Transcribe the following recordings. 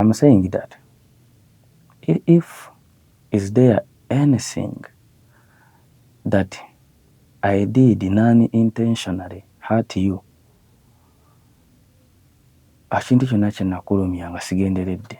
I'm saying that if is there anything that I did non intentionally hurt you akintu kyonna kyenakulumya nga sigenderedde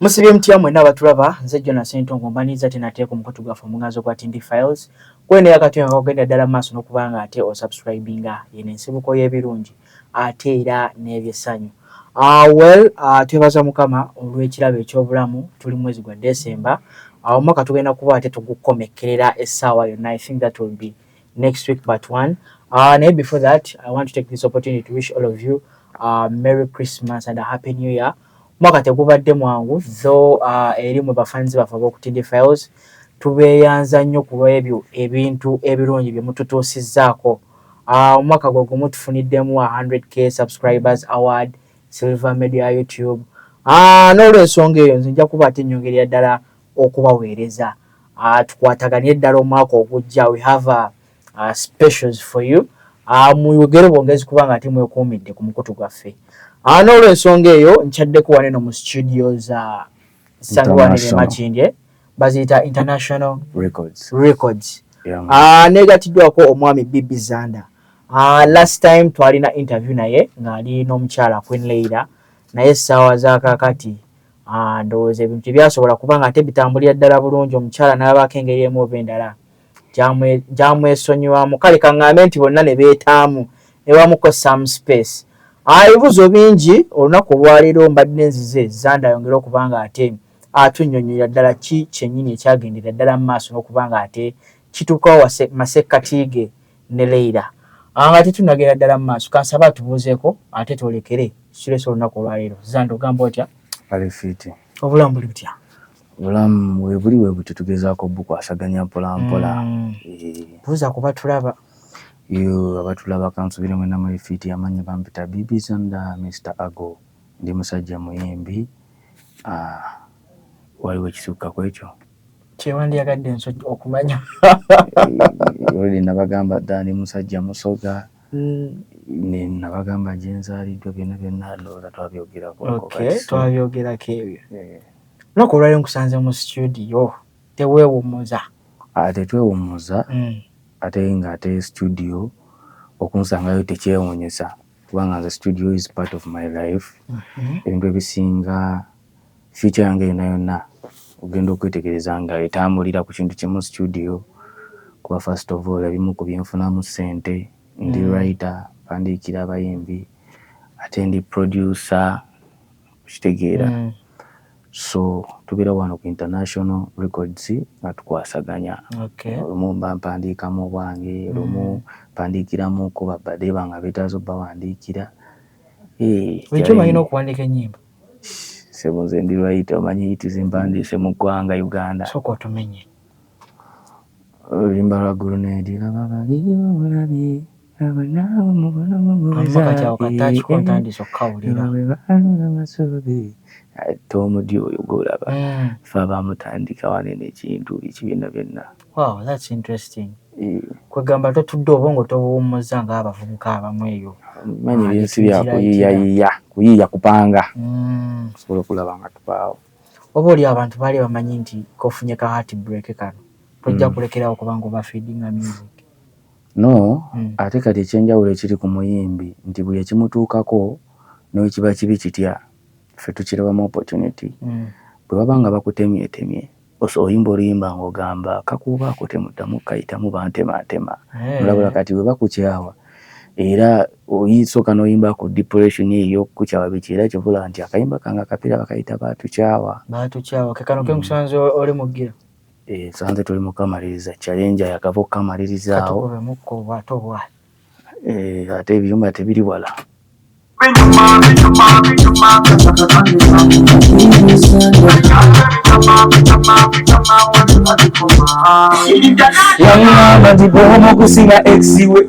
Musibye mutya mwena abatulaba nze Jona Sentongo mbaniriza tena teeka omukutu gwaffe omuganzo gwa Tindi Files kwene yakati nga kagenda ddala maaso nokubanga ate osubscribinga yeno ensibuko y'ebirungi ate era n'ebyessanyu. Uh, well uh, twebaza mukama olw'ekirabo eky'obulamu tuli mwezi gwa December uh, omwaka tugenda kuba ate tugukomekkerera essaawa yonna I think that will be next week but one uh, naye before that I want to take this opportunity to wish all of you uh, Merry Christmas and a Happy New Year Omwaka tegubadde mwangu though uh, eri mu bafans baffe ab'oku TD Files tubeeyanza nnyo ku lw'ebyo ebintu ebirungi bye mututuusizzaako. Uh, omwaka gwe gumu tufuniddemu 100k subscribers award Silver Media ya YouTube. Uh, n'olw'ensonga eyo nze nja kuba ate nnyongerera ddala okubaweereza. Uh, tukwataganire ddala omwaka ogujja we have a uh, specials for you uh, muyogere bwongezi kubanga ate mwekuumidde ku mukutu gwaffe uh, n'olwensonga eyo nkyaddeko wane no mu studio za sangiwanire makindye baziyita international records, records. Yeah, uh, negatiddwako omwami bibi zanda uh, last time twalina interview naye ng'ali n'omukyala queen leira naye essaawa zakakati Ah, ndowooza ebintu tebyasobola kubanga ate bitambulira ddala bulungi omukyala n'abaako engeri emu oba endala gyamwesonyiwamu kale kaŋŋambe nti bonna ne beetaamu ne bamuko some space ebibuuzo bingi olunaku olwaleero mbadde nzize zanda ayongere okuba nga ate atunnyonnyolera ddala ki kyennyini ekyagendera ddala mu maaso n'okuba nga ate kituukawo masekkati ge ne leira nga tetunagenda ddala mu maaso kansaba atubuuzeeko ate twolekere situleesa olunaku olwaleero zanda ogamba otya obulamu buli butya Obulamu webuli webutyo tugezaako obukwasaganya mpola mpola. Eh. Buuza ku batulaba. Yoo abatulaba kansubire mwena muli fiiti amannya bampita Bibi Sanda Mister Ago ndi musajja muyimbi ah waliwo ekisukka kwekyo kyewandiyagadde nso okumanya oluli nabagamba dda ndi musajja musoga mm. nabagamba gyenzaalidwa byonna byonna ndowooza twabyogerako twabyogerako ebyo eh. Lunaku olwali nkusanze mu situdiyo teweewummuza. Ah, tetwewummuza hmm. ate nga ate situdiyo okunsangayo tekyewunyisa kubanga nze situdiyo is part of my life mhm. ebintu ebisinga future yange yona yonna ogenda okwetegereza nga etambulira ku kintu kimu situdiyo kuba first of all ebimu ku byenfunamu ssente ndi hmm. writer mpandiikira abayimbi ate ndi producer okitegeera mm. so tubeera wano ku international records nga tukwasaganya olumu okay. mba mpandiikamu obwange olumu mm. mpandiikiramuko babadeba nga betaaza obawandiikira eh, ekyo balina okuwandiika enyimba sebo nze ndi lwayita omanyi yitiza empandiise mu ggwanga uganda soka otumenye oluyimba lwa gurunedi laba babiiba bulabye kati awo kataaki ko ntandise okukawulira ate omudi oyo gwolaba mm. fe abamutandika wanene ekintu ekibiina byonna wow that's interesting eh. kwegamba totudde obwongo tobuwummuza ngaabavubuka abamu eyo manyi ah, binsi bya kuyiyayiya kuyiya kupanga mm. sobola okulaba nga tupaawo oba oli abantu baali bamanyi nti kofunye ka heart break kano tojja mm. kulekerawo kubanga oba feedinga music No, ate kati ekyenjawulo ekiri ku muyimbi nti buli ekimutuukako nowekiba kibi kitya ffe tukirabamu opportunity bwe baba nga bakutemyetemye oso oyimba oluyimba nga ogamba kakuuba ako temuddamu kayitamu bantemantema olabula kati bwe bakukyawa era oyisooka noyimba ku depression eyo eyokukukyawa biki era kivula nti akayimba kange akapira bakayita batukyawa batukyawa kekano kemusanze oli mugira Eh, sanze tuli mukamaliriza challenge yakava okukamalirizaawo eh, ate ebiyumba tebiri wala yamwamba nti bwomu okusinga exiwe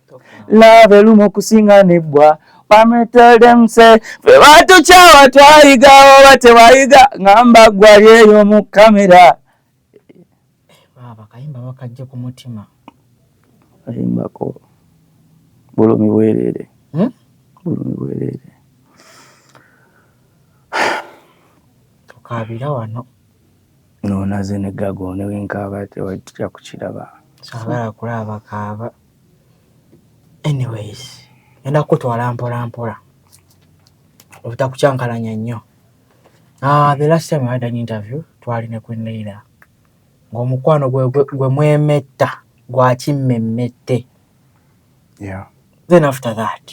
love elumu okusinga nebbwa Mama tell them say fe batukyawa twayiga oba tewayiga ngamba gwali eyo mu kamera akayimba bakajja ku mutima ayimbako bulumi bwerere hmm? bulumi bwerere tukaabira wano nonaze negago newenkaaba tewajja kukiraba saagala kulaaba kaaba anyways ngenda kukutwala mpolampola obutakukyankalanya nnyo ah, the last time had an interview twali ne queen leila ng'omukwano gwe mwemetta gwakimmemmette yeah. then after that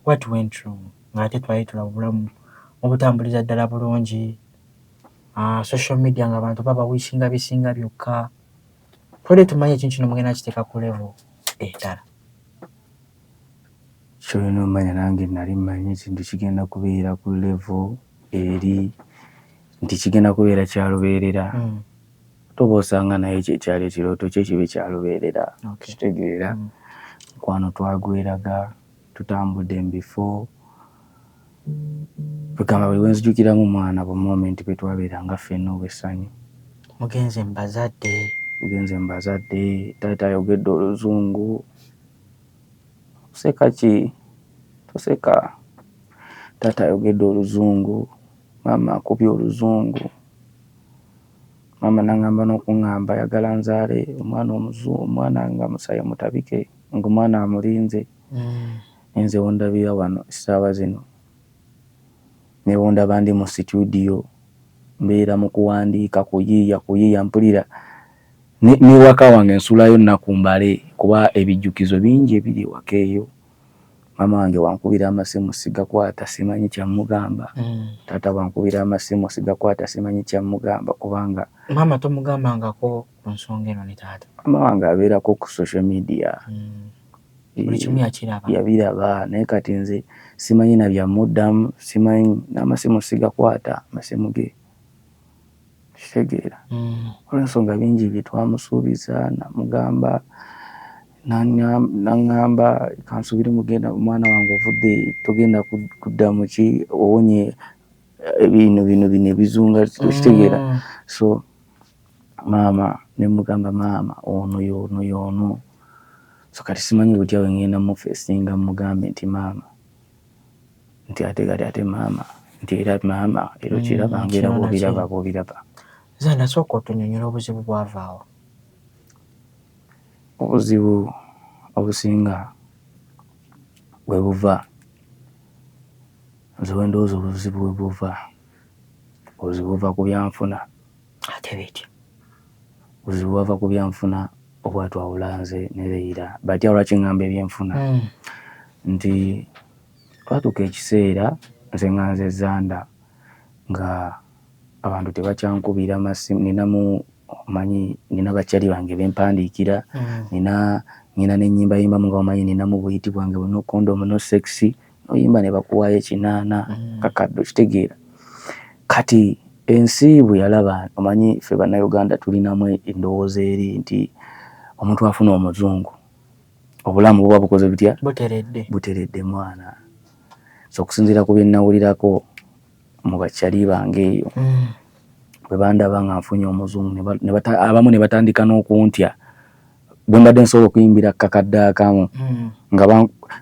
what went wrong ng'ate twali tula obulamu obutambuliza ddala bulungi ah, social media ng'abantu babawishinga bisinga byokka Twali tumanyi ekintu kino mugenda kiteeka ku level endala. Kyolina omanya nange nali manyi ekintu kigenda kubeera ku level eri nti kigenda kubeera kya lubeerera. Mm. Toba osanga naye ekyo ekyali ekirooto kye kibe kya lubeerera. Okay. Kitegeera. Mm. Mukwano twagweraga tutambudde mu bifo. Kwegamba buli wenzijukiramu mwana bu moment bwetwaberanga ffena obwessanyu. Mugenze mu bazadde. Mugenze mu bazadde. Taata ayogedde oluzungu. Oseka ki? Toseka. Taata ayogedde oluzungu. Maama akubye oluzungu. Maama nangamba nokungamba ayagala nzaale omwana omuzungu omwana nga musayi mutabike ngomwana amulinze. Mm. Nze wondabira wano essaawa zino ne bwondaba ndi mu situdiyo mbeera mu kuwandiika, kuyiiya kuyiiya. Mpulira ne n'ewaka wange nsulayo nnaku mbale kuba ebijjukizo bingi ebiri ewaka eyo. Maama wange bw'ankubira amasimu sigakwata simanyi kya mmugamba, taata bw'ankubira amasimu sigakwata simanyi kya mmugamba kubanga. Maama tomugambangako ku nsonga eno ne taata? Maama wange abeerako ku social media. buli kimu yakiraba yabiraba naye kati nze simanyi na bya muddamu simanyi n'amasimu sigakwata amasimu ge kitegeera mm. olwensonga bingi byetwamusuubiza namugamba naŋŋamba kansubire mugenda omwana wange ovudde togenda kudda muki owonye eh, bino bino bino ebizunga okitegeera mm. so maama nemugamba maama ono yono yono so kati simanyi butya wengenda mufesinga mugambe nti maama nti ate kati ate maama nti era maama era okiraba mm, ngaera bwobiraba bwobiraba zanda sooka otunyonyola obuzibu bwavaawo obuzibu obusinga webuva nze wendowooza obuzibu webuva obuzibu buva ku byanfuna ate bitya buzibu bwava ku byanfuna obwatwawula nze ne Leira batya lwaki ngamba ebyenfuna hmm. nti twatuuka ekiseera nze nga nze zanda nga abantu tebakyankubira masimu ninamu omanyi nina bakyali bange bempandiikira hmm. nina nina nenyimbayimba mu nga omanyi ninamu buyiti bwange buno kondomu no sexy oyimba ne bakuwaayo ekinaana mm. kakadde okitegeera kati ensi bwe yalaba omanyi ffe bannayuganda tulinamu endowooza eri nti omuntu afuna omuzungu obulamu buba bukoze butya buteredde mwana so okusinziira ku byennawulirako mu bakyali bange eyo mm. bwe bandaba nga nfunye omuzungu abamu ne batandika n'okuntya bwembadde nsobola okuyimbira kakadde akamu hmm.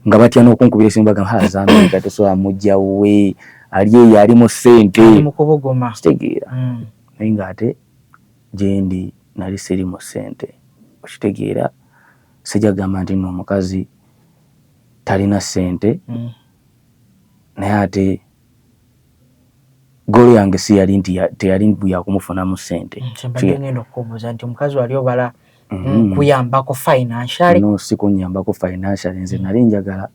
nga batya nokunkubira esimu bagamba hazamika tosobola mujja wuwe ali eyo ali mu sente kitegeera hmm. naye nga ate gyendi nali siri mu sente okitegeera sijja kugamba nti no omukazi talina sente hmm. naye ate Goal yange si yali nti teyali mbu yakumufunamu sente. Kyembadde ngenda okukubuuza nti omukazi wali obala mhm. kuyambako financially? No, si kunyambako financially. Nze mm. nali njagala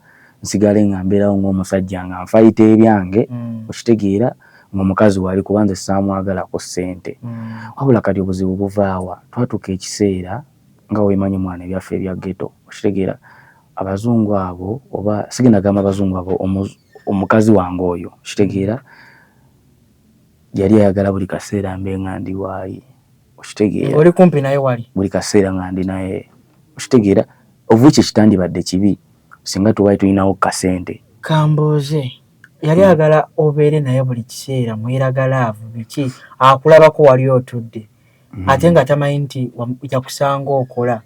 nsigale nga mbeerawo ng'omusajja nga nfayita ebyange mm. okitegeera ng'omukazi wali kuba nze saamwagalako sente. Mm. Wabula kati obuzibu buvaawa twatuuka ekiseera nga wemanyi mwana ebyaffe ebya ghetto okitegeera abazungu abo oba sigenda gamba abazungu abo omukazi wange oyo okitegeera yali ayagala buli kaseera mbe nga ndi waayi okitegeera oli kumpi naye wali buli kaseera nga ndi naye okitegeera ovuki ekitandibadde kibi singa tuwali tulinawo kasente kambooze yali hmm. agala obeere naye buli kiseera mweraga laavu biki akulabako wali otudde hmm. ate nga tamanyi nti yakusanga okola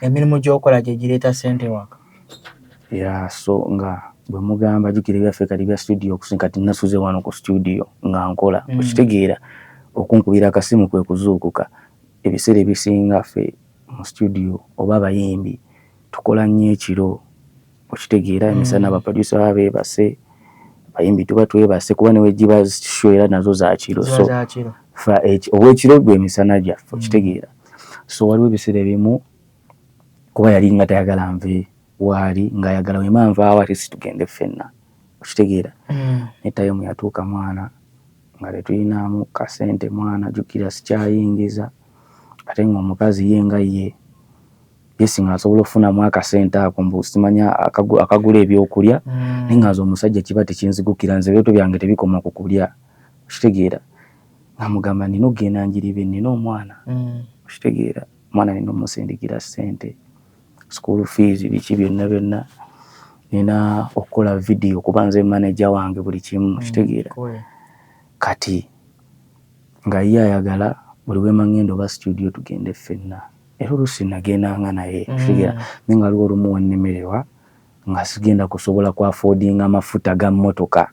emirimu gyokola gyegireeta ssente ewaka? Yeah so nga bwemugamba jukira ebyaffe kati bya studio okusinga kati nasuze wano ku studio nga nkola mm. okitegeera okunkubira akasimu kwe kuzuukuka ebiseera ebisinga ffe mu studio oba abayimbi tukola nnyo ekiro okitegeera emisana mm. baproducer baba beebase bayimbi tuba twebase kuba newegiba sho era nazo zakiro so owekiro gwe emisana gyaffe mm. okitegeera so waliwo ebiseera ebimu kuba yali nga tayagala nve waali ngaayagala wema nvaawo ate situgende ffenna okitegeera mm. ne tayimu yatuuka mwana nga tetulinamu kasente mwana jukira sikyayingiza ate ngaomukazi ye nga ye Yes nga nsobola okufunamu akasente ako mbu simanya akagula ebyokulya mm. naye nga nze omusajja kiba tekinzigukira nze ebyoto byange tebikoma ku kulya okitegeera nga mugamba nina okugenda njiribe nina omwana mm. okitegeera omwana nina omusindikira sente school fees biki byonna byonna nina okukola vidiyo kuba nze manaja wange buli kimu mm, okitegeera kati nga ye ayagala buli wemangenda oba studio tugende ffenna era oluusi nagendanga naye mm. kitegeera naye nga waliwo olumu wennemererwa nga sigenda kusobola ku afodinga amafuta ga mmotoka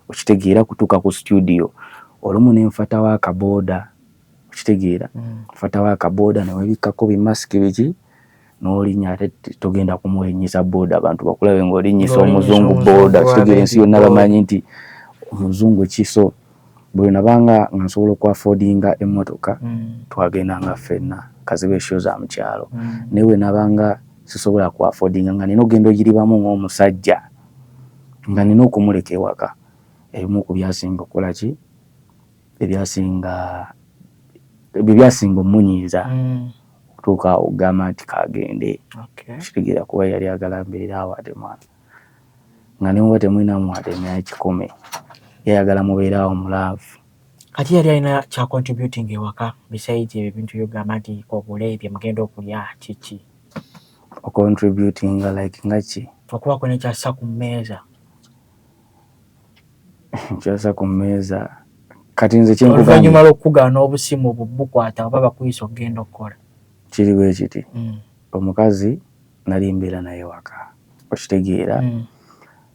okitegeera kutuuka ku situdiyo olumu ne nfatawo akabooda okitegeera mm. nfatawo akabooda newebikkako bimasiki biki nolinya ate togenda kumulinyisa booda abantu bakulabe ngaolinyisa omuzungu booda kitegeera ensi yonna bamanyi nti omuzungu kiso buli nabanga nga nsobola okwafodinga emmotoka mm. twagendanga ffenna kaziba esho za mu kyalo mm. naye bwe nabanga sisobola kwafodinga nga nina ogenda ogiribamu ng'omusajja nga nina okumuleka ewaka ebimu ku byasinga okukola ki ebyasinga ebyo byasinga omunyiiza mm. okutuuka awo okugamba nti kagende kitegeera kuba yali agala mbeera awo ate mwana nga nemuba temulinamu wade nekikumi yayagala mubeeraawo mulaavu kati yali alina kya contributing ewaka besides ebyo ebintu byogamba nti obule bye mugenda okulya kiki ocontributinga like nga ki okubaako nekyassa ku mmeeza kyassa ku mmeeza kati nze kyoluvannyuma lwokukugaana obusimu obwo bukwata oba bakuyisa okugenda okukola kiri bwe kiti mm. omukazi nali mbeera naye waka okitegeera hmm.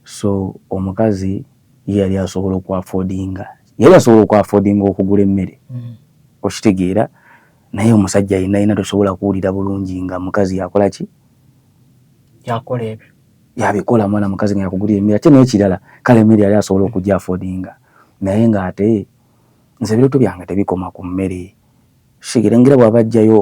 so omukazi ye yali asobola okwafodinga yali asobola okwafodinga okugula emmere hmm. okitegeera naye omusajja yena yena tosobola kuwulira bulungi nga mukazi yakola ki yakola ebyo yabikola mwana mukazi nga yakugulira emmere ate n'ekirala kale emmere yali asobola okugya afodinga naye nga ate nze ebiroto byange tebikoma ku mmere kitegeera ngira bwaba ajjayo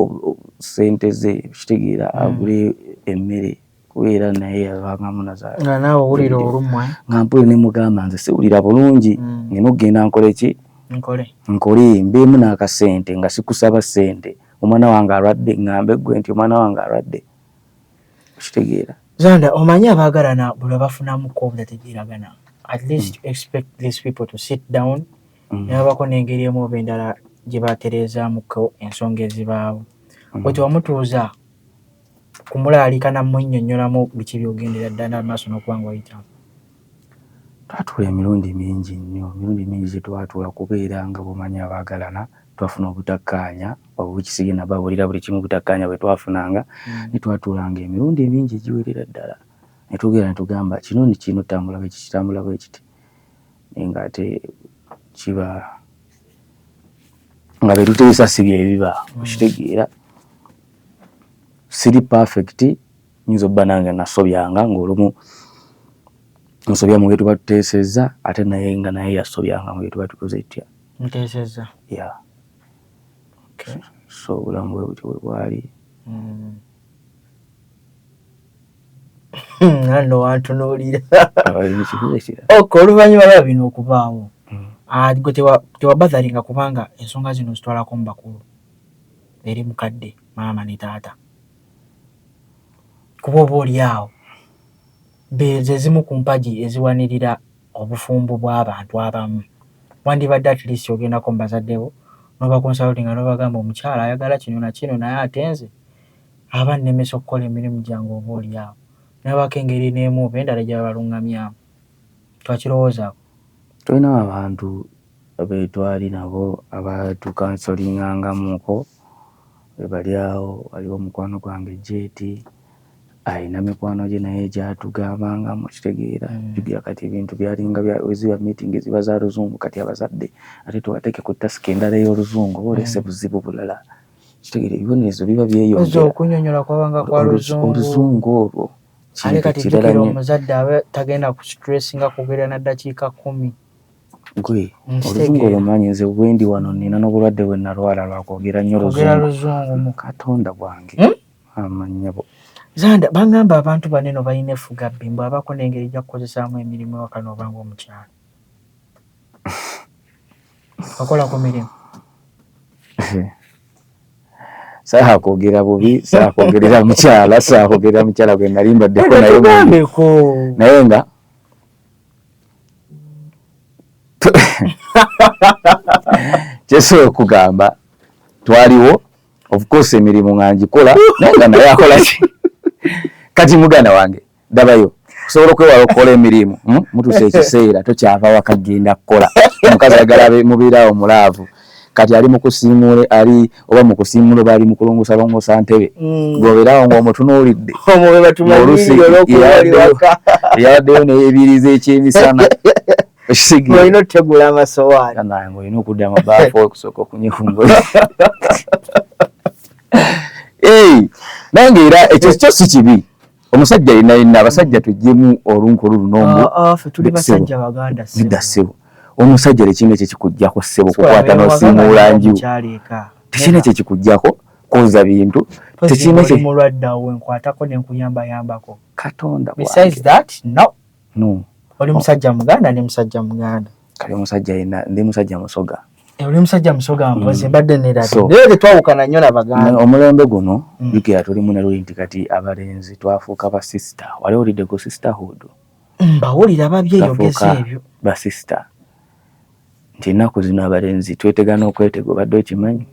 sente ze kitegeera hmm. agule emmere kubeera naye yabangamu nga naawe owulira olumwa eh? nga mpuli ne mugamba nze siwulira bulungi mm. nina okugenda nkole ki nkole mbeemu n'akasente nga sikusaba sente omwana wange alwadde ngambe gwe nti omwana wange alwadde okitegeera zanda omanyi abaagalana buli babafunamuko obutategeeragana at least mm. expect these people to sit down mm. nebabako n'engeri emu oba endala gye batereezaamuko ensonga ezibaawo mm. wetewamutuuza kumulaalika na mmunnyonnyolamu biki by'ogendera ddala mu maaso n'okuba nga oyitamu? Twatuula emirundi mingi nnyo, emirundi mingi gye twatuula kubeera nga bw'omanyi abaagalana twafuna obutakkaanya obw'ekisige nabo abulira buli kimu obutakkaanya bwe twafunanga mm. ne twatuulanga emirundi emingi egiwerera ddala ne tugera ne tugamba kino ni kino tambula bwe kikitambula bwe kiti naye ng'ate kiba nga be tuteesa si bye biba mm. okitegeera siri perfect nyinza obba nange nasobyanga ngaolumu nsobya mu byetuba tuteesezza ate naye nga naye yasobyanga mu byetuba tukoze etya muteesezza ya so obulamu bwe butyo bwe bwali hmm. nano wantunuulira ok oluvannyuma lwa bino okubaawo hmm. ah, gwe tewabadharinga kubanga ensonga zino zitwalako mu bakulu eri mukadde maama ne taata kuba oba olyawo zezimu ku mpagi eziwanirira obufumbo bw'abantu abamu. Wandibadde at least ogendako mu bazadde bo nobakonsalutinga nobagamba omukyala ayagala kino na kino naye ate nze aba nnemesa okukola emirimu gyange oba olyawo nabaako engeri n'emu oba endala gye babalungamyamu. Twakirowoozako. Tulina abantu betwali nabo aba tu kansolingangamuko webali awo waliwo omukwano gwange JT ayina mikwano gye naye gyatugambangamu okitegeera mm. jukira kati ebintu byalinga weziba meeting ziba za luzungu kati abazadde ate tuwateeke ku tasika endala ey'oluzungu oba olese mm. buzibu bulala kitegeera ebibonerezo biba byeyongera oluzungu olwo kintu kirala nyo omuzadde abe tagenda ku stress nga kugera na dakika kumi gwe oluzungu olumanyi nze bwendi wano nina nobulwadde bwe nalwala lwakwogera nyo oluzungu mu katonda bwange hmm? amanyabo zanda bangamba abantu baneno balina efuga bbi mbu abako nengeri jakukozesaamu emirimu ewakano obanga omukyalo Okola ku mirimu. Saha kwogera bubi, saha kwogerera mukyala, saha kwogerera mukyala gwe nali mbaddeko naye mubeko. Naye nga kyesobola okugamba twaliwo of course emirimu nga ngikola naye nga naye akola ki kati muganda wange dabayo kusobola okwewala okukola emirimu hmm? mutusa ekiseera tokyava waka genda kukola omukazi agala mubeerawo mulaavu kati ali mukusiimuula ali oba mukusiimuula oba ali mukulongosa longosa ntebe hmm. gobeerawo ngaomutunuulidde olusi yabaddeyo neyebiriza ekyemisana olina otegula amasowaani olina okudda mubaafu okusooka okunyehungula nange era ekyo kyo si kibi omusajja yena yena abasajja tujjemu olunkulu lunombo ah, ah, fe tuli basajja baganda sebo nida sebo omusajja lekinga ekyo kikujjako sebo kukwata nosimuula nju tekina ekyo kikujjako koza bintu tekina ekyo mulwadda we nkwatako ne nkuyamba yambako katonda besides that no no oli musajja muganda ne musajja muganda kali musajja yena ndi musajja musoga Eh, oli musajja musoga mpozi mm. mbadde neradeyo tetwawukana nnyo nabaganda omulembe guno mm. jukira tulimu neluli nti kati abalenzi twafuuka basista wali olidde ku sisterhood mm, mbawulira babyeyogeza ebyo basista nti ennaku zino abalenzi twetegana okwetega obadde okimanyi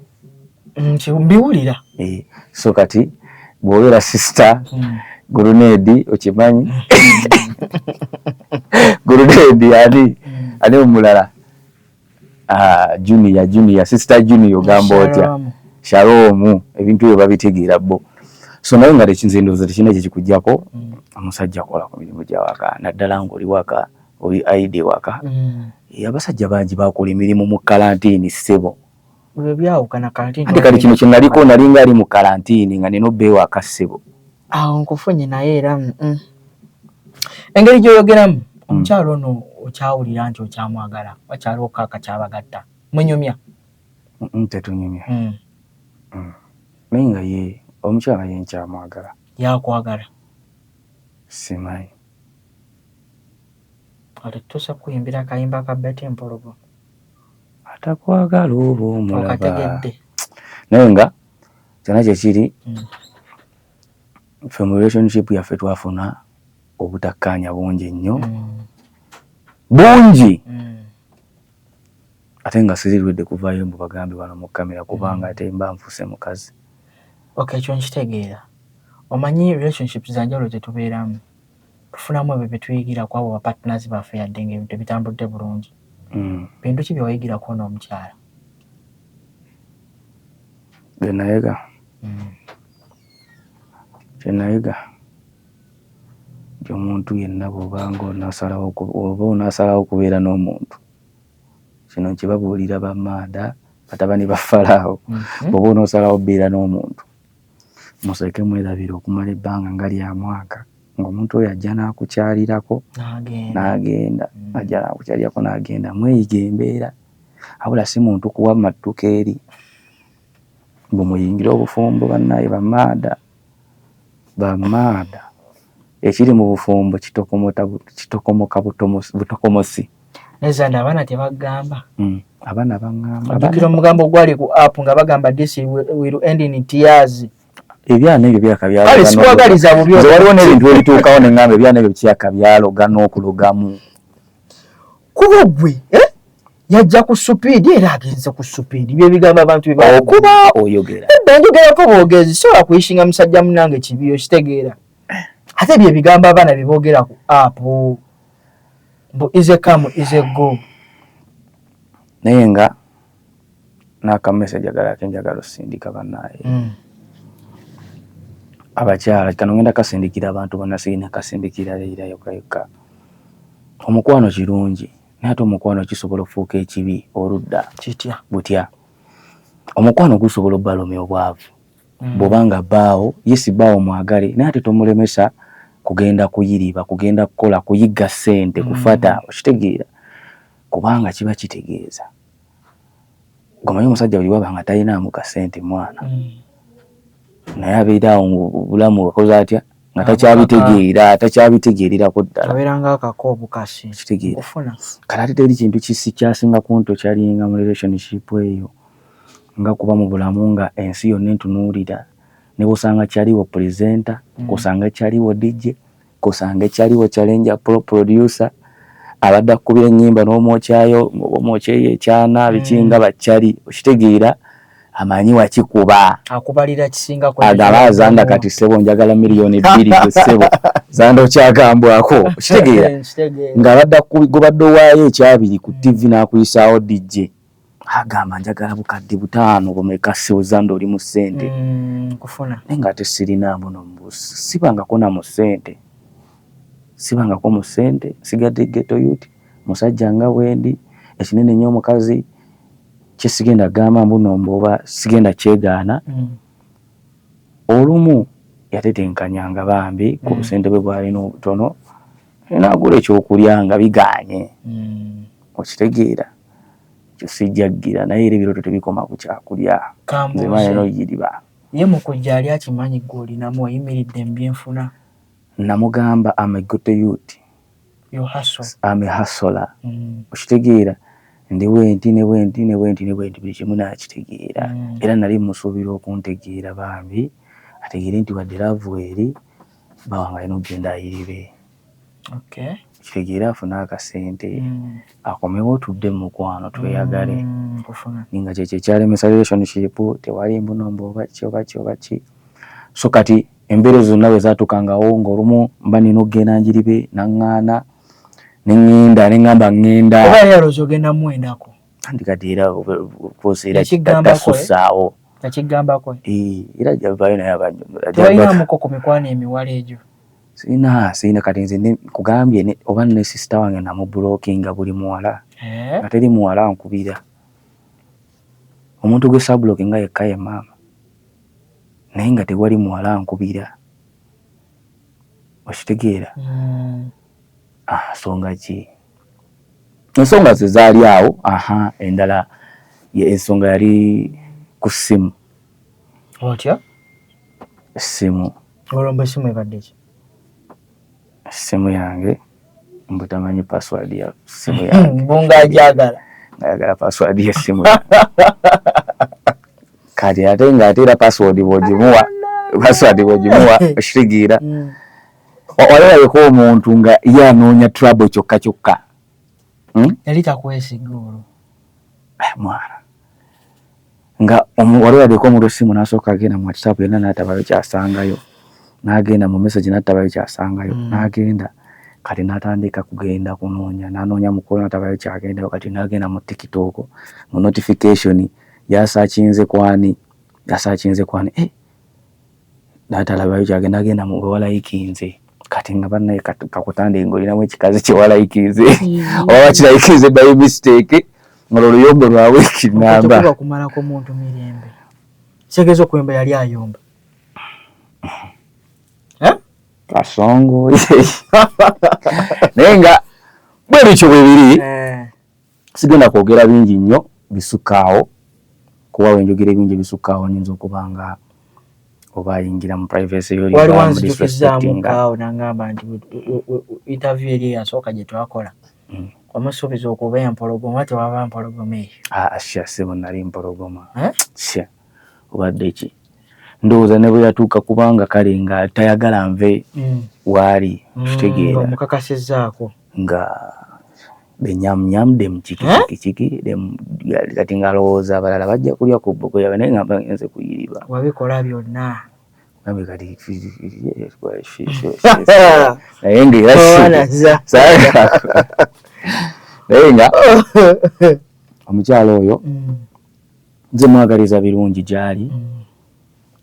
mbiwulira eh, so kati bwobeera sista gurunedi okimanyi gurunedi ani ani omulala Ah, junior junior sister junior ogamba otya shalom ebintu ebyo babitegeera bo so naye nga tekinze ndowooza tekirina kye kikujjako mm. omusajja akola ku mirimu gya waka naddala ng'oli waka oli aide waka mm. eh, abasajja bangi bakola emirimu mu kalantiini ssebo Bwe byawukana kalantini. Ate kati kino kye naliko nalinga ali mu kalantini nga nina obbeewo akassebo. Awo nkufunye naye era mm, mm. engeri gy'oyogeramu mm. omukyalo ono okyawulira nti okyamwagala wakyaliwo kaaka kyabagatta munyumya tetunyumya naye nga ye omukyala ye nkyamwagala yakwagala simanyi Olituuse kukuyimbira akayimba ka Betty Mpologo. Atakwagala oba omulaba. Okategedde. Naye nga kyona kyekiri mm. ffe mu relationship yaffe twafuna obutakkaanya bungi nnyo mm. bungi mm. ate nga sirirwedde kuvaayo mbu bagambe bano mu kamera kubanga ate mba nfuse mukazi okay ekyo nkitegeera omanyi relationships zanjawulo zetubeeramu tufunamu ebyo bye tuyigira ku abo ba partners baffe yadde nga ebintu tebitambudde bulungi. Mm. Bintu ki bye wayigira ku ono omukyala? Bye nayiga. Mm. Kye nayiga nti omuntu yenna bw'oba nga onasalawo oba onasalawo okubeera n'omuntu kino nkibabuulira bamaada batabani ba falaawo mm-hmm. bw'oba onasalawo obeera n'omuntu Museke mwerabire okumala ebbanga nga lya mwaka ng'omuntu oyo ajja n'akukyalirako n'agenda, mm. ajja n'akukyalirako n'agenda. Mweyiga embeera, abula si muntu kuwa mattuka eri mbu muyingire obufumbo bannaye bamaada bamaada ekiri mu bufumbo kitokomoka butokomosi. nezani abaana tebagamba mm. abaana bagamba ajukira omugambo ogwali ku app nga bagamba this will end in tears ebyana ebyo byakabyalosikwagaliza bubi waliwo n'ebintu ebituukawo ne ngamba ebyana ebyo kyaka byaloga n'okulogamu kuba gwe eh? yajja ku supiidi era agenze ku supiidi byebigambo abantu byebakuba oyogera edda njogerako boogezi sobola kuyishinga musajja munange kibiyo kitegeera ate byebigambo abaana byeboogera ku apu mbu ize come ize go naye nga nakamesaja galake njagala osindika banaye mm. abakyala kano ngenda kasindikira abantu banasirina kasindikira leira yoka yoka omukwano kirungi naye ate omukwano kisobola okufuuka ekibi oludda kitya butya omukwano gusobola obalumya obwavu mm. bwoba nga baawo yesi baawo mwagale naye ate tomulemesa kugenda kuyiriba kugenda kukola kuyigga sente mm. kufata okitegeera kubanga kiba kitegeeza gomanyi omusajja buli waba nga talinaamu kasente mwana mm. naye abeera awo ngobulamu akoze atya nga takyabitegeera takyabitegeererako ddalakitegeera kati ate teri kintu kisi kyasinga kunto kyalinga mu relationship eyo Nga kuba mu bulamu nga ensi yonna entunuulira, ne bw'osanga Chaliwo presenter, k'osange Chaliwo DJ, k'osange Chaliwo Challenger pro producer, abadde akukubira ennyimba n'omwokyayo oba omwokyeyo ekyana biki nga ba Chali okitegeera amanyi wakikuba. Akubalira kisinga ku ebyo agaba Zanda kati ssebo njagala million bbiri gwe ssebo Zanda okyagambwako okitegeera ng'abadde akukubira gw'obadde owaayo ekyabiri ku TV n'akuyisaawo DJ. agamba njagala bukadde butaano bumeka sewuzanda oli mu ssente mm, kufuna naye nga ate sirina mbuno sibangako na mu ssente sibangako mu ssente sigadde geto yuti musajja nga wendi ekinene nyo omukazi kyesigenda gamba mbuno mboba sigenda kyegaana mm. olumu yatetenkanyanga bambi ku mm. busente bwe bwalina obutono nagula ekyokulya nga biganye mm. okitegeera ekyo sijjaggira naye era ebirooto tebikoma ku kyakulya nze manya no yiriba ye mukujja ali akimanyi gwe olinamu oyimiridde mu byenfuna namugamba am a good youth am a hustler mm. okitegeera ndi wenti ne wenti ne wenti ne wenti buli kimu nakitegeera mm. era nali musuubira okuntegeera bambi ategeere nti wadde laavu eri bawangalina okugenda ayiribe kitegeere afune akasente mm. akomewo tudde mumukwano tweyagale mm, naye nga kyekyo ekyalemesa relationship tewali mbuno mbu obaki obaki obaki so kati embeera ezo zonna wezatukangawo ngaolumu mba nina okugenda njiribe naŋŋaana neŋŋenda neŋŋamba ŋŋenda oba yaloza ogenda muwendako andikadde era kuseera kitasussaawo yakigambako era javayo naye abanyonyola tewalinamuko ku mikwano emiwala egyo sirina sirina kati nze nkugambye oba ne sisita wange namubulokinga buli muwala eh? nga teri muwala nkubira omuntu gwe sabulokinga yekka ye maama naye nga tewali muwala nkubira okitegeera hmm. ah, nsonga ki ensonga ze zaali awo aha endala ensonga yali ku ssimu otya essimu Olomba esimu ebadde ki? Simu yange mbu tamanyi password ya simu yange. Mbu nga ajagala. Ayagala password ya simu yange. Kati ate nga ate era password bwogimuwa password bwogimuwa oshirigiira. Mm. Olabeko omuntu nga ye anoonya trouble kyokka kyokka. Hmm? Yali takwesiga olwo. Eh, mwana. nga wali olabika omuntu essimu n'asooka agenda mu whatsapp yonna n'atabayo kyasangayo n'agenda mu message n'atabayo kyasangayo mm. n'agenda kati n'atandika kugenda kunoonya n'anoonya mukulu n'atabayo kyagendayo kati n'agenda mu tiktok mu notification yasakinze kwani yasakinze kwani eh, data labayo kyagenda genda mu walayikinze kati nga banaye kakutande ngolinamu ekikazi kyewalayikinze hmm. oba bakirayikinze by mistake nga oluyombo lwabwe kinamba kumalako muntu mirembe kitegeeza okuyomba yali ayomba eh? kasongo naye nga bwe bityo bwe biri eh. sigenda kwogera bingi nnyo bisukkaawo kuba wenjogera ebingi ebisukkaawo nyinza okuba nga oba ayingira mu privacy yoliwali wanzijukizaamukkaawo nangamba nti interview eri eyasooka gye twakola hmm. omusuubiza okuba empologoma tewaba mpologoma eyo ah, ah, sha sebo nali mpologoma eh? sha obadde ki ndowooza ne bwe yatuuka kubanga kale nga tayagala nve hmm. waali hmm, kitegeera omukakasizzaako nga benyamnyam dem kikikikiki dem kati nga alowooza abalala bajja kulya ku bboko yabe naye ngamba ngenze kuyiriba wabikola byonna nabe kati naye nga era naye nga omukyala oyo mm. nze mwagaliza birungi gyali mm.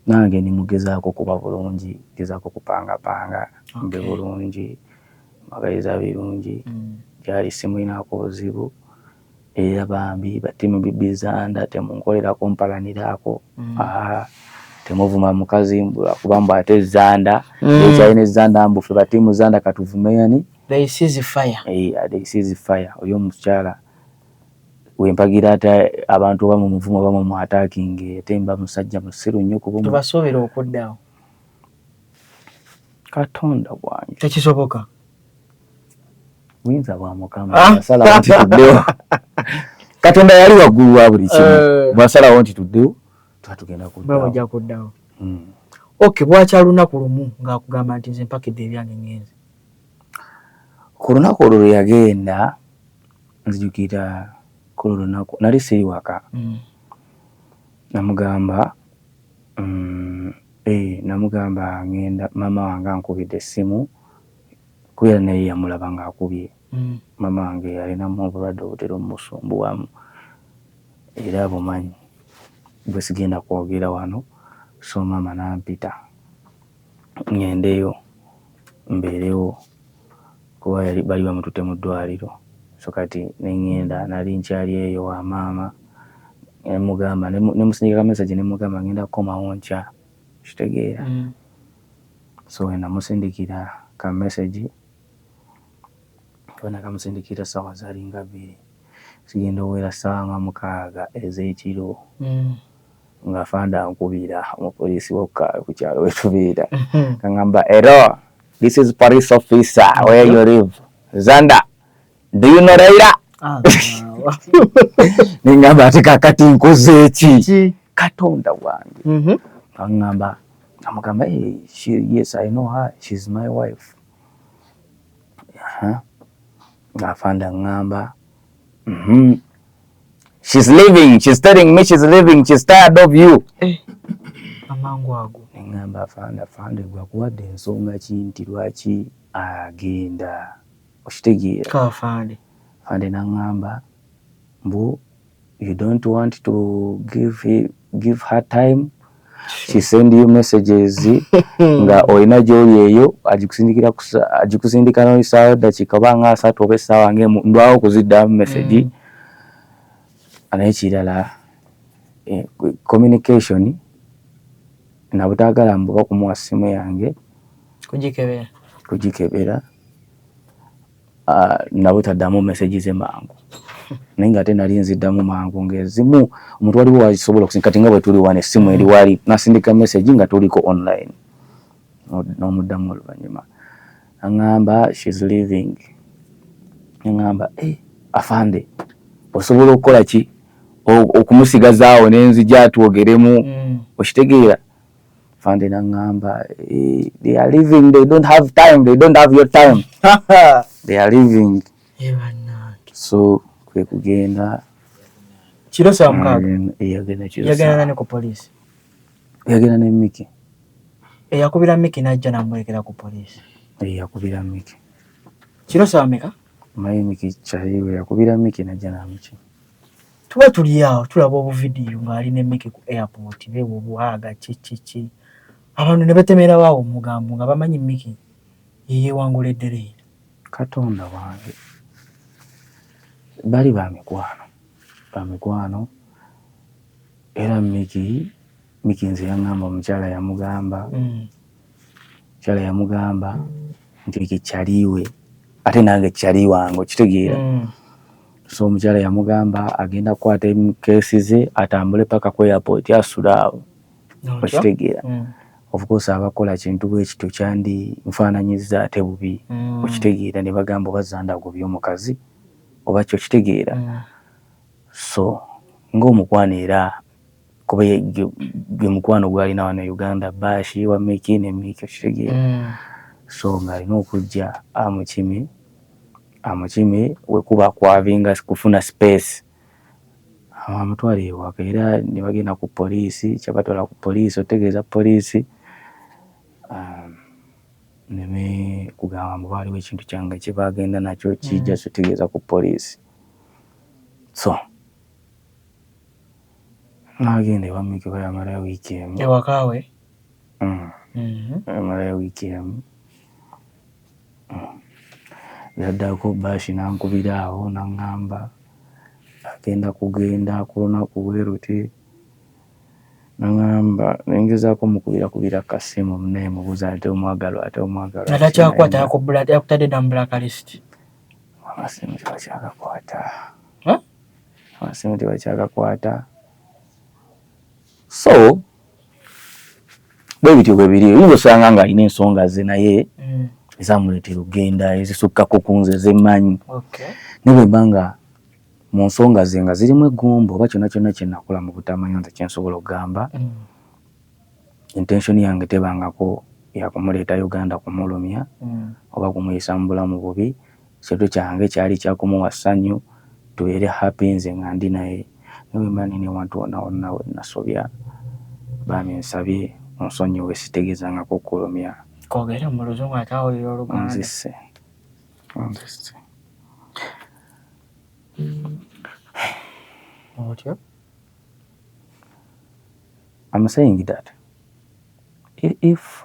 Nange ndi mugezaako kuba bulungi, ngezaako kupangapanga mbe bulungi, mbagaliza birungi gyali simulinaako buzibu era bambi batemubibiza nda temunkolerako mpalaniraako mm. temuvuma mukazi kuba mbu ate zanda mm. ekyalina ezanda mbu fe batiimu zanda katuvume yani eh, oyo omukyala we mpagira ate abantu oba mu muvumo oba mu atakinge ate mba musajja musiru nnyo kuba tubasuubira okuddawo katonda wange tekisoboka buyinza bwa mukama ah. asalawo nti tuddewo katonda yali waggulu wa buli kimu eh. bwasalawo nti tuddewo tuba tugenda kuddawobajja kuddawo hmm. ok bwakya lunaku lumu ngaakugamba nti nze mpakidde ebyange ngenzi ku lunaku olwo lwe yagenda nzijukira kulu lunaku nali siri waka mm. namugamba mm, eh, namugamba ngenda mama wange ankubidde essimu kubeera naye yamulaba ngaakubye mm. mama wange yalinamu obulwadde obutera omusumbuwamu era bumanyi bwesigenda kwogera wano so mama nampita ŋŋendeyo mbeerewo kuba yali baali bamututte mu ddwaaliro. So kati ne ŋŋenda nali nkyali eyo wa maama ne mmugamba ne ne musindikira kamesegi ne mmugamba ŋŋenda kukomawo nkya okitegeera. So we namusindikira kamesegi kuba nakamusindikira essaawa zaalinga bbiri zigenda okuwera ssaawa nga mukaaga ez'ekiro. nga fanda ankubira omupoliisi wokka ku kyalo wetubeera kaŋamba ero this is police officer where you live zanda do you know raila ah, neŋamba ati kakati nkoze eki katonda wange mhm. kaŋamba amugamba yes i know her she's my wife nga fanda ŋamba mm -hmm. she's leaving she's telling me she's leaving she's tired of you eh, amangu ago ngamba afande afande gwa kuwadde ensonga ki nti lwaki agenda okitegeera afande afande nangamba mbu you don't want to give, give her time she send you messages nga olina gyoli eyo agikusindikira agikusindika noyisaawo eddakiika oba nga asatu oba essaawa ngemu ndwawo okuziddamu message mm. naye kirala eh, communication nabutagala mbuba kumuwa simu yange kugikebera kugikebera Ah, nawe taddamu message ze mangu naye nga ate nali nziddamu mangu ngaezimu omuntu waliwo wasobola okusinga kati nga bwe tuli wano essimu eri wali nasindika message nga tuliko online n'omuddamu oluvannyuma aŋŋamba shes living aŋŋamba eh, afande osobola okukola ki okumusigazaawo nenzija twogeremu mm. okitegeera fande nangamba eh, they are living they don't have time they don't have your time they are living eh, so kwe kugenda kiro saa mukaaga eh, yagenda kiro yagenda nani ku police yagenda ne Miki eyakubira Miki najja namulekera ku police eyakubira Miki kiro saa meka mayi Miki chaiwe yakubira Miki najja na Miki Tuba tuli awo tulaba obuvidiyo ng'ali ne Mike ku airport beewa obuwaaga kikiki abantu ne betemerawo awo omugambo nga bamanyi Mike ye yeewangula eddereera. Katonda wange bali ba mikwano ba mikwano era Mike Mike nze yang'amba omukyala yamugamba. Mm. Kyala yamugamba nti ekyo kyaliwe ate nange kyali wange okitegeera mm. so omukyala yamugamba agenda kukwata kesi ze atambule paka ku airport asula awo okitegeera mm. ofcourse abakola kintu bwekityo kyandi nfaananyiza ate bubi mm. okitegeera ne bagamba oba zanda agobye omukazi oba kyo okitegeera so ng'omukwano era kuba gwe mukwano gwalina wano e uganda baashi wa miki ne miki okitegeera mm. so ng'alina okujja amukime amukime wekuba kwavinga kufuna space amutwala ewaka era ne bagenda ku poliisi kyabatwala ku poliisi otegeeza poliisi um, neme kugamba mbu baaliwo ekintu kyange kye bagenda nakyo kijja mm. sotegeeza ku poliisi so N'agenda ewa Mikiva yamalayo wiiki emu. Ewaka we? Yamalayo wiiki emu. Yaddako Baashi n'ankubira awo n'aŋŋamba agenda kugenda ku lunaku bwe luti. N'aŋŋamba ne ngezaako omukubira ku kasimu naye mubuuza ate omwagalwa ate omwagalwa. Nga takyakwata yakutadde dda mu blacklist. Akasimu tebakyakakwata. amasimu tebakyagakwata so bwe bityo bwe biri oyinza osanga nga alina ensonga ze naye mm. ezamuleetera okugenda ezisukkako ku nze zemanyi naye bwe mba nga mu nsonga ze nga zirimu eggumba oba kyonna kyonna kye nakola mu butamanya nze kye nsobola okugamba mm. intention yange tebangako yakumuleeta uganda kumulumya mm. oba kumuyisa mu bulamu bubi Kyetu kyange kyali kya kumuwa ssanyu tubeere happy nze nga ndi naye naye bwe mba ndi ne wantu wonna wonna we nnasobya bambi nsabye onsonyiwe sitegeezangako kukulumya. Koogere mu luzungu ate awulire oluganda. Onzisse. Onzisse. Otyo. I'm saying that if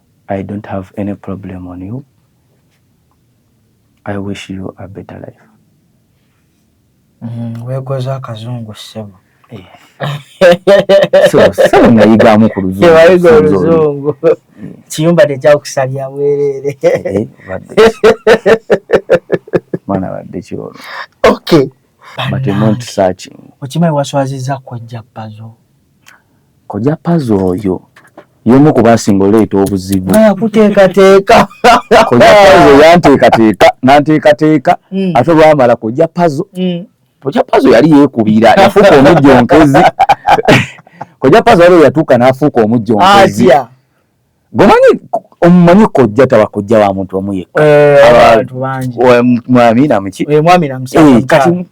I don't have any problem on you I wish you a better life mm, wekoza akazungu ssebo eh. nayigamu ku luzungu kiyumba tekyakusalya bwerere eh, mwana badde kiolo okay okimanyi waswaziza kojja pazo Koja pazo oyo yomu ku basinga oleeta obuzibu kuteekateeka koja pazo yanteekateeka nanteekateeka hmm. ate olwamala koja pazo hmm. koja pazo yali yeekubira yafuuka omujjonkezi koja pazo waliwo yatuuka n'afuuka omujjonkezi gomanyi omumanyi kojja taba kojja wa muntu omu yekka eh, mwami namuki eh, eh, kati mm,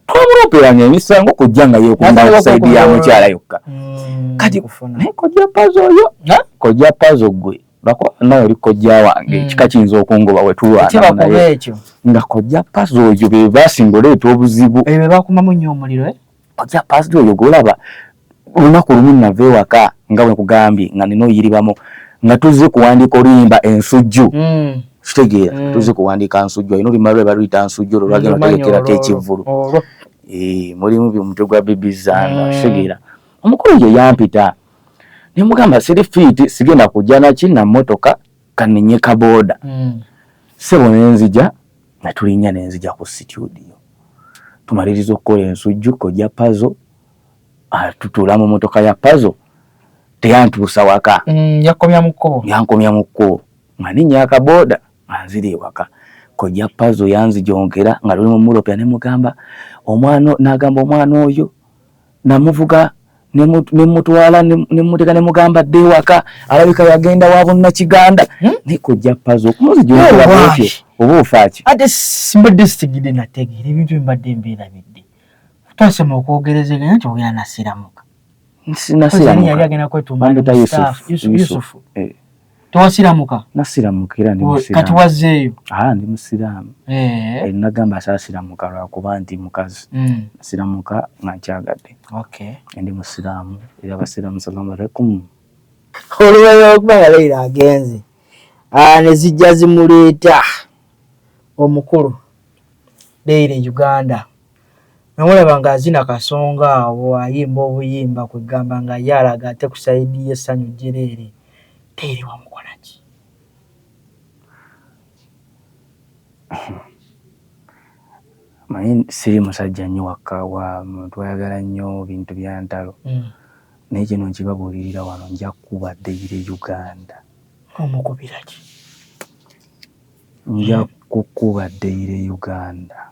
twamuloperanga emisango kojja nga yekumba saidi ya mukyala yokka hmm, kati naye kojja pazo oyo kojja pazo gwe bakuba nawe oli kojja wange hmm. kika kiyinza okungoba wetulwanaekyo nga kojja pazo oyo bebasinga oleeta obuzibu bebakumamu nyo omuliro Oja pastor oyo golaba lunaku lumu nava ewaka nga bwe nkugambye nga nina oyiribamu nga tuzze kuwandiika oluyimba ensujju mm. kitegeera mm. tuzze kuwandiika nsujju alina oluyimba lwe baluyita nsujju olwo lwagenda otegekerako ekivvulu eh, mulimu omutwe gwa bibi zanga mm. kitegeera omukulu ye yampita ne mugamba siri fiiti sigenda kujja naki na mmotoka kaninye kabooda mm. sebo ne nzija natulinnya ne nzija ku situdiyo tumaliriza okukola ensujju kojja pazo atutuula mu motoka ya pazo teyantuusa waka mm, yakomya mu kkubo yankomya mu kkubo nga ninnya akabooda nga nzira ewaka kojja pazo yanzijonkera nga luli mu muropya ne mugamba omwana n'agamba omwana oyo namuvuga nemutwala nemuteka nemugamba dde ewaka alabika yagenda wa bunnakiganda hmm? naye kojja pazo okumuzijolaotyo oba ofaaki ate simbadde sitegedde nategeera ebintu embadde mbeerabidde twasema okwogerezeganya nti ogenda nasiramuka nasiramuka yali agenda kwetumbaa yusufu eh. tewasiramuka nasiramuka era ndi musiramu kati wazzeeyo ah ndi musiramu eh, eh nagamba asasiramuka lwakuba nti mukazi mm. nasiramuka nga nkyagadde okay ndi musiramu era abasiramu salamu alaikum oluwera okuba nga leira agenze ah, ne zijja zimuleeta omukulu leira e uganda namulaba nga azina kasonga awo ayimba obuyimba kwegamba nga ye alaga ate ku saidi ye sanyu jereere teere wamukolaki manyi siri musajja nnyo wakka wa muntu ayagala nnyo bintu byantalo mm. naye kino nkibabuulirira wano nja kuba deire uganda omukubiraki nja kukuba deire uganda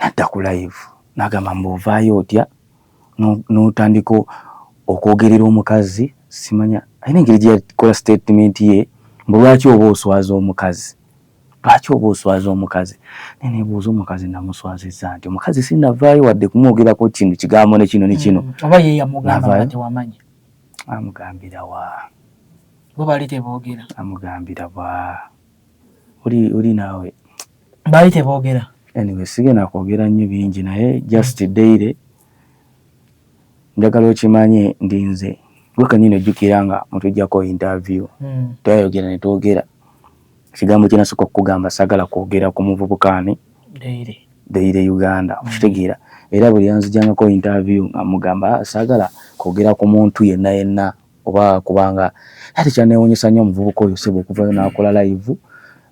nadda ku live nagamba mbu ovaayo otya n'otandika okwogerera omukazi simanya alina engeri gye yakola statement ye mbu lwaki oba oswaza omukazi lwaki oba oswaza omukazi naye nebuuza omukazi namuswazizza nti omukazi sinavaayo wadde kumwogerako kino kigambo ne kino ne kino mm, oba ye yamugamba tewamanya amugambira wa bo bali teboogera amugambira wa oli oli naawe baali teboogera anyway sigenda kwogera nnyo bingi naye just daily njagala okimanye ndi nze gwe kanyini ojjukira nga mutujjako interview hmm. twayogera ne twogera ekigambo kyenasooka okukugamba sagala kwogera ku muvubukaani daily uganda hmm. okitegeera era buli yanzijangako interview nga mugamba ah, sagala kwogera ku muntu yenna yenna oba kubanga ate kyanewunyisa nnyo omuvubuka oyo sebo okuvayo nakola live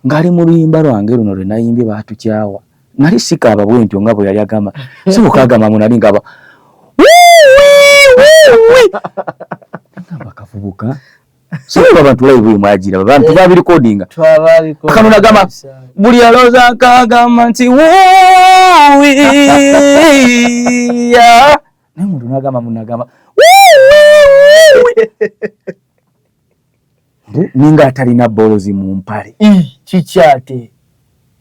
ngali mu luyimba lwange luno lwe nayimbye batukyawa nali sikaaba bwentyo nga bwe yali agamba sebo kagamba mu nali ngaba ngamba kavubuka sebo abantu live imajira abantu babi recording kano nagamba buli aloza kagamba nti wuwi naye muntu nagamba munagamba ninga atalina bolozi mu mpale kikyate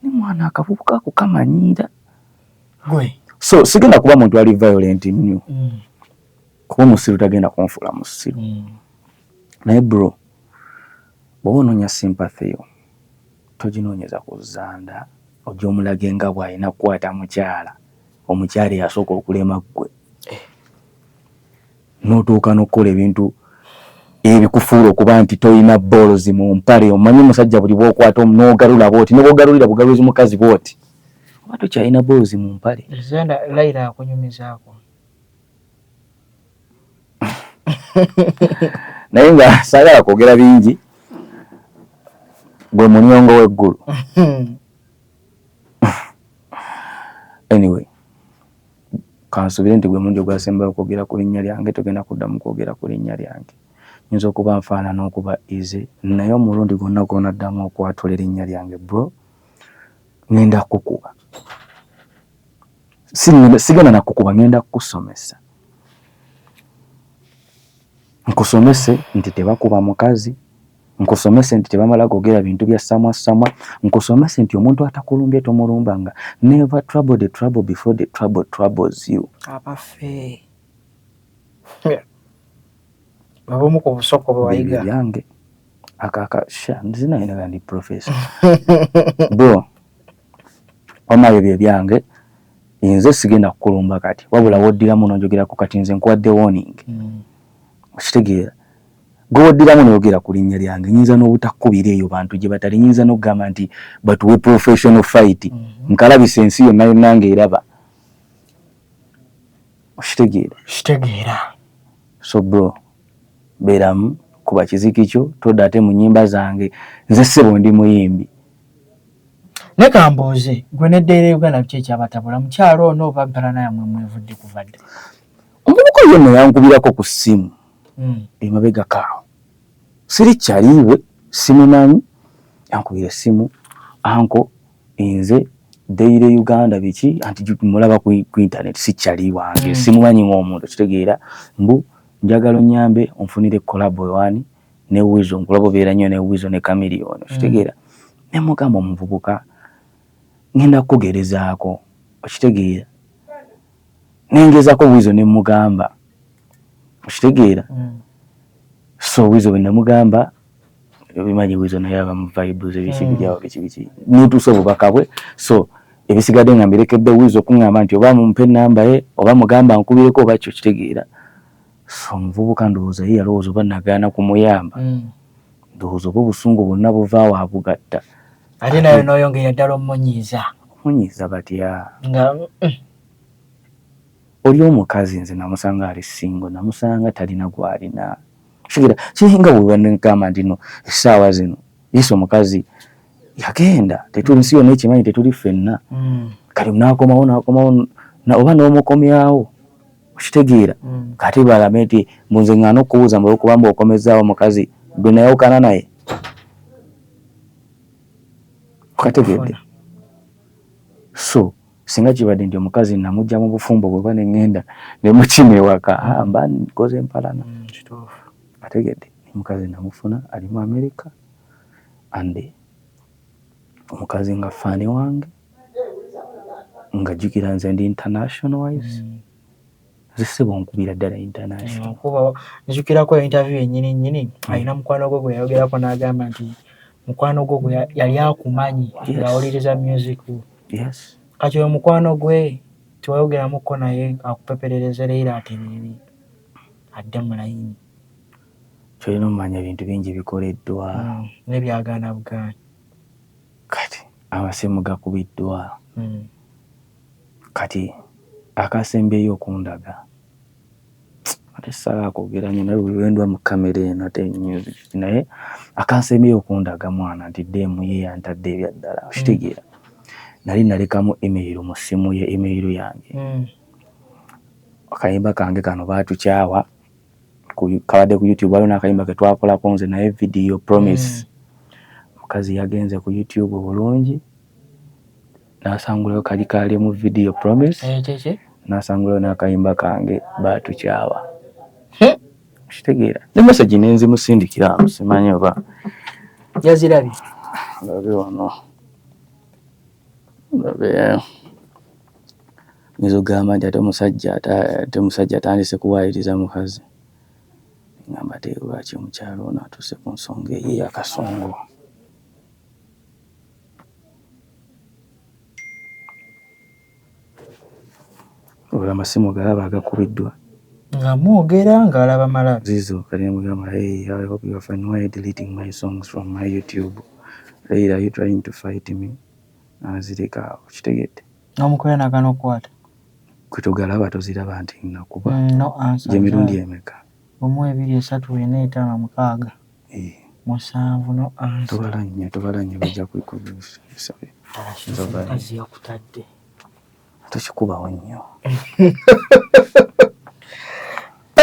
ni mwana akavubuka ako kamanyiira so sigenda kuba muntu ali violent nnyo mm. kuba omusiru tagenda kunfuula musiru mm. naye bro bwoba onoonya sympathy yo toginoonyeza ku zanda ojja omulage nga bw'alina kukwata mukyala omukyala eyasooka okulema ggwe eh. n'otuuka n'okukola ebintu ebikufuula okuba nti tolina boolozi mu mpale omanyi omusajja buli bwokwata n'ogalula bwoti nobwogalulira bugaluzi mukazi bwoti oba tokyalina boolozi mu mpale laira akunyumizaako naye nga saagala kwogera bingi gwe munyongo w'eggulu anyway kansubire nti gwe mulundi ogwasembayo okwogera ku linnya lyange togenda kuddamu kwogera ku linnya lyange nyinza okuba nfaanana okuba ize naye omulundi gwonna gwonaddamu okwatula erinnya lyange bro ngenda kukuba sigenda nakukuba ngenda kukusomesa nkusomese nti tebakuba mukazi nkusomese nti tebamala gogera bintu bya samwa samwa nkusomese nti omuntu atakulumbye tomulumbanga never trouble the trouble before the trouble troubles you abafe babomu ku busoko bwebayiga byange akaka sha nzina ina ndi professor bro omayo bye byange inze sigenda kukulumba kati wabula woddiramu nonjogerako kati nze nkuwadde warning mm. okitegeera Gwe woddiramu noyogera ku linnya lyange nyinza n'obutakukubira eyo bantu gye batali nyinza n'okugamba nti batuwe professional fight mhm. nkalabisa ensi yonna yonna nga eraba okitegeera kitegeera so bro beeramu kuba kiziki kyo todda ate mu nyimba zange nze ssebo ndi muyimbi ne kambuuze gwe neddeera uganda biki ekyabatabula mukyalo ono oba bbala nayamwe mwevudde kuvadde omubuka yonna yankubirako ku ssimu mm. emabegako awo siri kyaliiwe simumanyi yankubira essimu anko nze dayire uganda biki anti mulaba ku intaneti si kyali wange mm. simumanyi ng'omuntu kitegeera mbu njagala onyambe onfunire kolabo ewani ne wizo nkulaba obeera nnyo ne wizo ne kamiliyoni mm. kitegeera ne mugamba omuvubuka ngenda kukugerezaako okitegeera nengezako wizo nemugamba okitegeera mm. so wizo wenamugamba bimanyi wizo naye aba muvibes ebikibijao bikibiki mm. netuusa obubaka bwe so ebisigadde nga mbirekedde wizo okuŋamba nti oba mumpe enamba ye oba mugamba nkubireko oba kyo kitegeera so omuvubuka ndowooza ye yalowooza oba nagaana kumuyamba mm. ndowooza oba obusungu bwonna buva wa bugatta ate nayo noyongera ddala omunyiiza omunyiiza batya nga mm. oli omukazi nze namusanga ali singo namusanga talina gwalina kigira kiringa bwebanegamba ntino essaawa zino yesu omukazi yagenda tetuli nsi yonna ekimanyi tetuli ffenna mm. kati nakomawo nakomawo oba n'omukomyawo okitegeera mm. kati balame nti munze ngana okubuuza mbu olwokuba mbu okomezaawo omukazi gwe nayawukana naye okategeedde so singa kibadde nti omukazi namugya mu bufumbo bweba neŋŋenda ne mukima ewaka ah, mba nkoze empalana mm, ategedde omukazi namufuna ali mu amerika ande omukazi nga fani wange nga jukira nze ndi international wise mm. nze sebo nkubira ddala international njukirako interview yenyini nyini mm. alina mukwano gwe gweyayogerako n'agamba nti mukwano gwo gwe yali akumanyi ng'awuliriza music yes. kati oyo mukwano gwe tiwayogeramuko naye akupeperereze leero atereere adde mu layini kyolina omanya ebintu bingi bikoleddwa hmm. nebyagaana bugaanyi kati amasimu gakubiddwa hmm. kati akasembyeyo okundaga ate sala akwogera nyo naye wendwa mu kamera eno ate naye akansembyeyo okundaga mwana nti demu ye yantadde ebyaddala hmm. okitegeera nali nalekamu email mu ssimu ye email yange akayimba kange kano batukyawa kabadde ku youtube waliwo nakayimba ketwakolako nze naye video promise mm. mukazi yagenze ku youtube bulungi nasangulayo kali kali mu video promise eh, nasangulayo nakayimba kange batukyawa kitegeera ne message nenzimusindikira simanyi oba yazirabi labe wano labe Oyinza okugamba nti ate omusajja ate ate omusajja atandise kuwaayiriza mukazi. Ngamba ate lwaki omukyala ono atuuse ku nsonga eyo ey'akasongo. Olwo amasimu galaba agakubiddwa. Nga mwogera ng'alaba malabi. Zizo kati mugamba hey I hope you are fine why deleting my songs from my YouTube. Leila are you trying to fight me? N'azireka awo okitegedde. Nomukwera nagana okukwata. Gwe togalaba toziraba nti nakuba mm, no gyemirundi emeka? Omu ebiri esatu ena etaano mukaaga eh. musanvu no ansa. Tobala nnyo tobala nnyo bajja kukusabe. Omukazi yakutadde. Tokikubawo nnyo.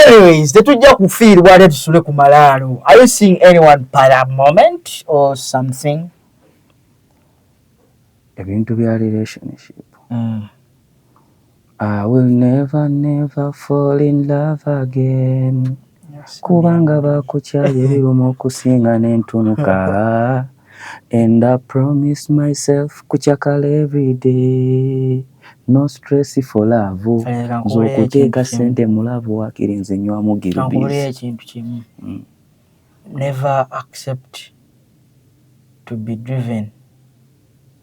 anyways tetujja kufiirwa ate tusule ku malaalo are you seeing anyone para moment or something ebintu bya relationship mm. I will never never fall in love again kubanga bakukyaye biruma okusinga nentunuka and I promise myself kucakala every day no stress for love nze okuteeka sente mu love wakiri nze nywamu giribisi Never accept to be driven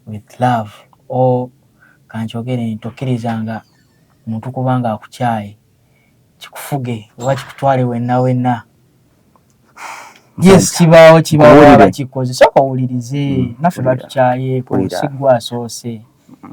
with love or kankyogere nti tokkirizanga muntu kuba nga akukyaye kikufuge oba kikutwale wenna wenna yes kibaawo kibawaba kikoze soka owulirize mm. naffe batukyaye ku nsi gwasoose mm.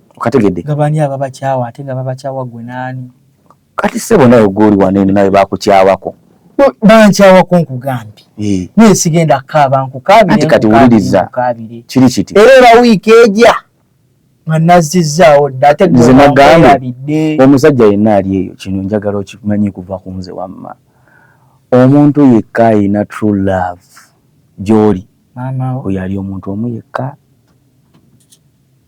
okategedde nga bani ababakyawa ate nga babakyawa gwe naani kati sebo naye goli wanene naye bakukyawako bankyawako nkugambye eh. naye sigenda kukaaba nkukaabire kati wuliriza kiri kiti era era wiiki eja nga nazzizaawo dda ate nze nagambye omusajja yenna ali eyo kino njagala okimanyi kuva ku nze wamma omuntu yekka ayina true love gyoli oyo ali omuntu omu yekka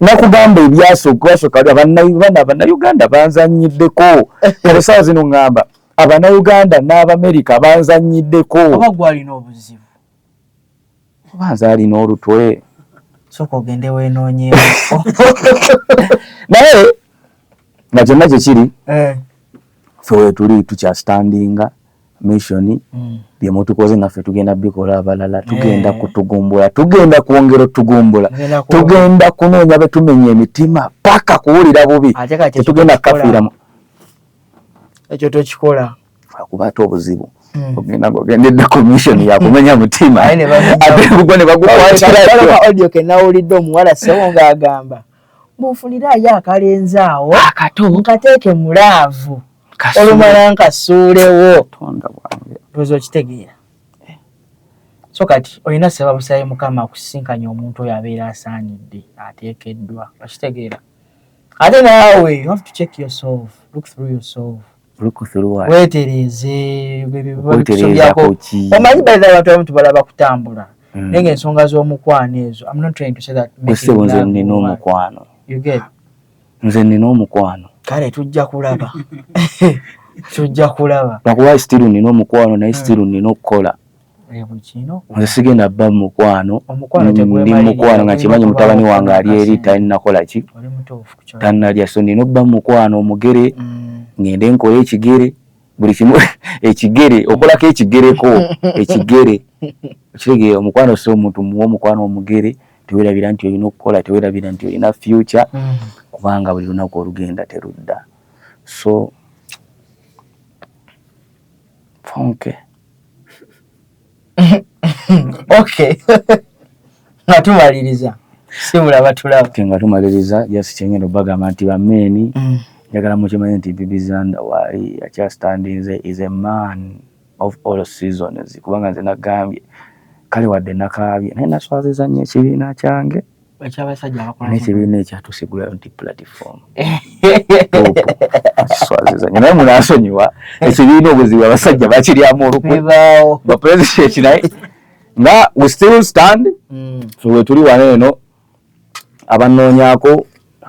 nakugamba ebyasookwasooka ali abanayuganda abanayuganda banzanyiddeko kale saawa zino ngamba abanayuganda n'abamerika banzanyiddeko oba gwalina obuzibu oba nze alina olutwe soka ogende wenoonyeeko naye nga kyonna kyekiri eh. fe wetuli tukyastandinga mission byemutukoze naffe tugenda bikola abalala tugenda eh. kutugumbula tugenda kwongera otugumbula tugenda kunoonya betumenya emitima paka kuwulira bubi tetugenda kukafiramu ekyo tokikola akuba ate obuzibu hmm. ogenda gogendedde commission yakumenya mutima ate gugwo ne bagukwatiraaudio kenawulidde omuwala sewo ngaagamba munfunire ayo akalenzi awo akato nkateeke mulaavu olumala nkasuulewo lwoza okitegeera eh. so kati olina saba busabe mukama akusisinkanye omuntu oyo abeera asaanidde ateekeddwa okitegeera ate naawe you have to check yourself look through yourself wetereeze omanyi baidha abantu abamu tubalaba kutambula mm. naye nga ensonga z'omukwano ezo amnotrying to say that nina omukwano nze nina omukwano kale tujja kulaba tujja kulaba nakuba still nina omukwano naye still hmm. nina okukola eh, nze sigenda ba mukwano ndi mukwano nga kimanyi mutabani wange ali eri talinakola ki tanalya so nina okuba mukwano omugere hmm. ngende nkole ekigere buli kimu ekigere okolako ekigereko ekigere okitegeera omukwano si omuntu muwa omukwano omugere tewerabira nti olina okukola tewerabira nti olina future mm. kubanga buli lunaku olugenda terudda so fonke ok nga tumaliriza simulaba tulaba nga tumaliriza just kyengenda obagamba nti bameeni mm. njagala mukimanye nti bibizanda waali akyastandinze is a man of all seasons kubanga nze nagambye kale wadde nakaabye naye naswaziza nnyo ekibiina kyange nekibiina ekyatusigulayo nti platform swaziza nyo naye munasonyiwa ekibiina obuzibu abasajja bakiryamu olukwe bapresident naye nga we still stand mm. wetuli wano eno abanoonyako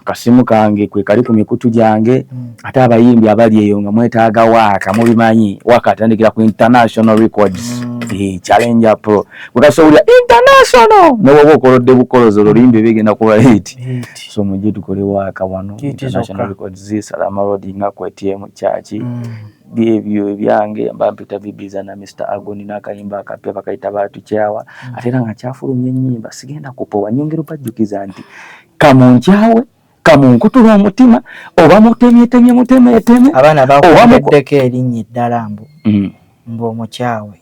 akasimu kange kwe kali ku mikutu gyange mm. ate abayimbi abali eyo nga mwetaaga waaka mubimanyi waaka atandikira ku international records mm. eh, challenge pro kwekasobulira international newaba okolodde bukolozi oluyimbi bigenda kuba hit so mujje tukole waaka wano international records zisalama rodi nga kwetye mu kyaki mm. byebyo ebyange mba mpita bibiza na Mr Agoni n'akayimba akapya bakayita batukyawa mm. ate era nga kyafulumya ennyimba sigenda kupowa nyongera obajjukiza nti kamunkyawe kamunkutula omutima oba mutemyetemye mutemeteme abaana bakuteddeko erinnya eddala mbu mm. mbu omukyawe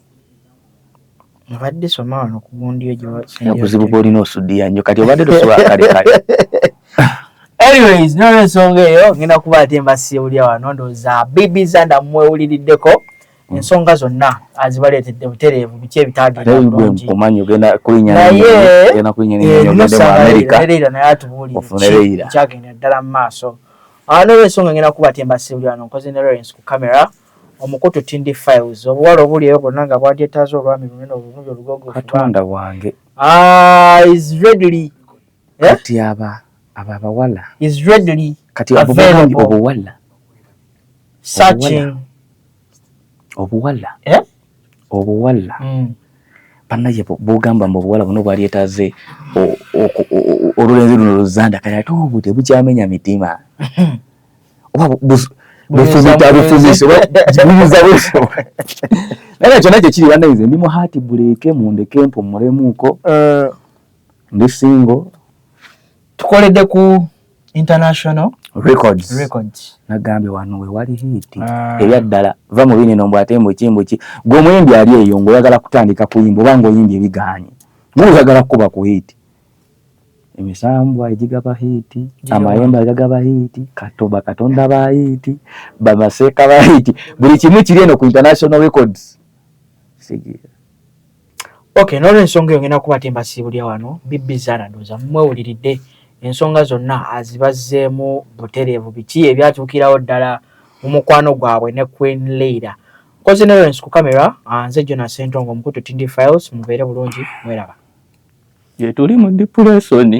Nabadde soma wano ku gundi ejo. Obuzibu bwolina osudiya nnyo kati obadde tosobola kale kale. Anyways, nolwe ensonga eyo ngenda kuba ate mbasiye bulya wano ndowooza bibi zanda mwewuliriddeko hmm. ensonga zonna azibaleetedde butereevu biki ebitaagendaobulunginaye enusaerera naye atubuulire kyagenda ddala mu maaso ah, nolwensonga ngenda kuba ate mbasiye bulya wano nkoze ne lawrence ku camera Omukutu Tindi Files. Obuwala obuli eyo bwonna nga bwadyetaaza olwami lunene olulungi olugogovu. Katonda wange. Ah, is readily. Eh? Kati aba aba abawala. Is readily. Kati abo bamanyi obuwala. Searching. Obuwala. Eh? Obuwala. Mm. banaye bogamba mbu obuwala buno bwalyetaze olulenzi luno luzanda kati ate obude bukyamenya mitima oba bufumita bufumise buyiza busobola naye kyonna kyekiri banayize ndi mu haati buleeke mundeke mpumulemuuko eh. ndi singo tukoledde ku international records records nagambye wano we wali hiti ah. ebya ddala va mu bini nombo ate mbu kimbu ki gwe muyimbi ali eyo ngoyagala kutandika kuyimba oba ngoyimbye biganye muyagala kuba ku hiti emisambwa egigaba hiiti amayembe agagaba hiiti kato bakatonda ba hiiti bamaseeka ba hiiti buli kimu kiri eno ku international records sigira okay nolwensonga eyo ngenda kuba tembasiibulya wano bibbi zaana ndooza mumwewuliridde ensonga zonna azibazzeemu butereevu biki ebyatuukirawo ddala mu mukwano gwabwe ne queen leira nkoze nolwensi ku kamera nze jona sentongo omukutu tindi files mubeere bulungi mweraba gyetuli mu dipulesoni